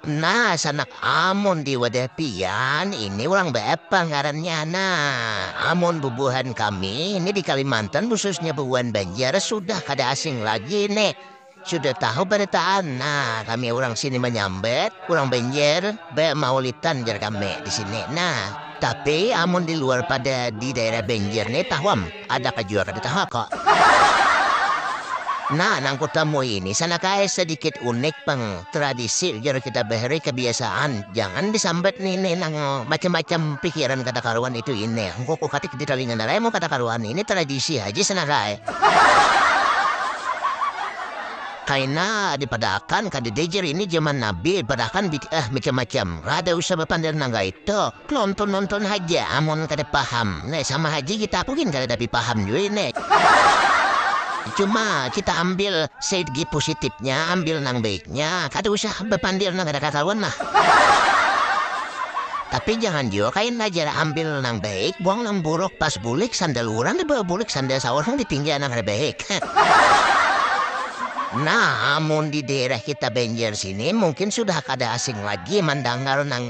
Nah, sanak amun di wadah pian ini urang baapa ngarannya? Nah, amun bubuhan kami ini di Kalimantan khususnya bubuhan Banjar sudah kada asing lagi ini, sudah tahu barataan. Nah, kami urang sini manyambat urang Banjar ba maulitan jar kami di sini. Nah, tapi amun di luar pada di daerah Banjar ni tahu am. Ada ka jua kada tahu aku. Nah, nang kutamui ini sanakaya sadikit unik pang, tradisi ujar kita bahari kabiasaan, jangan disambat ni ini nang macam-macam pikiran kada karuan itu ini, engko kukatik di talinga nalaimu kada karuan ini tradisi haja sanakaya kaina dipadaakan kadada jar ini jaman nabi padaakan bid'ah macam-macam, kada usah bapander nang kaitu. Nonton-nonton haja amun kada paham. Nek sama haji kita aku gin kadada bipaham jua ini. Cuma kita ambil segi pusitipnya, ambil nang baiknya, kada usah bapandir nang kada kakaruan lah. Tapi jangan jua kaina jar ambil nang baik buang nang buruk pas bulik sandal urang dibawa bulik sandal saurang ditinggal nang kada baik. Nah amun di daerah kita Banjar sini mungkin sudah kada asing lagi mandangar nang.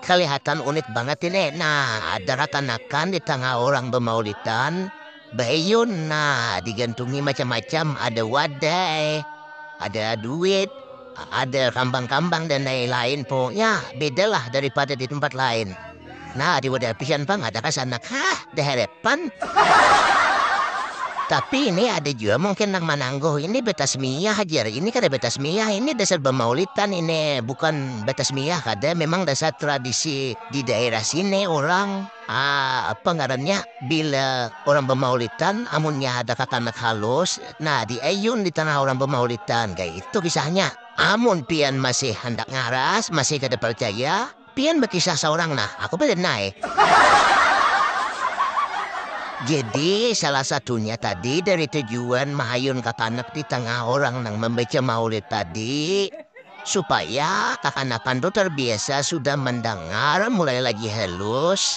Kalihatan unik banget ini. Nah, ada rakanakan di tangah orang bamaulidan, baeyun. Nah, digantungi macam-macam, ada wadai, ada duit, ada kambang-kambang dan lain-lain. Pokoknya bedalah daripada di tempat lain. Nah, diwadah pisan pang ada kasanak. Hah, daheret. pan. Tapi ini ada jua mungkin nang manangguh ini betasmiyah jar, ini kada betasmiyah, ini dasar bamaulitan ini, bukan betasmiyah kada, memang dasar tradisi di daerah sini urang ah apa ngarannya bila urang bamaulitan amunnya ada kakanak halus nah di ayun di tangah urang bamaulitan kaya itu kisahnya. Amun pian masih handak ngaras, masih kada parcaya. Pian bakisah saurang nah, aku balin nae. Jadi, salah satunya tadi dari tujuan mahayun kakanak di tangah orang nang mambaca maulid tadi, supaya kakanakan tu tarbiasa sudah mandangar mulai lagi halus,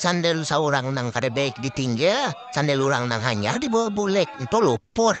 Sandel saurang nang kada baik ditinggal, sandel urang nang hanyar dibawa bulik, ntu luput.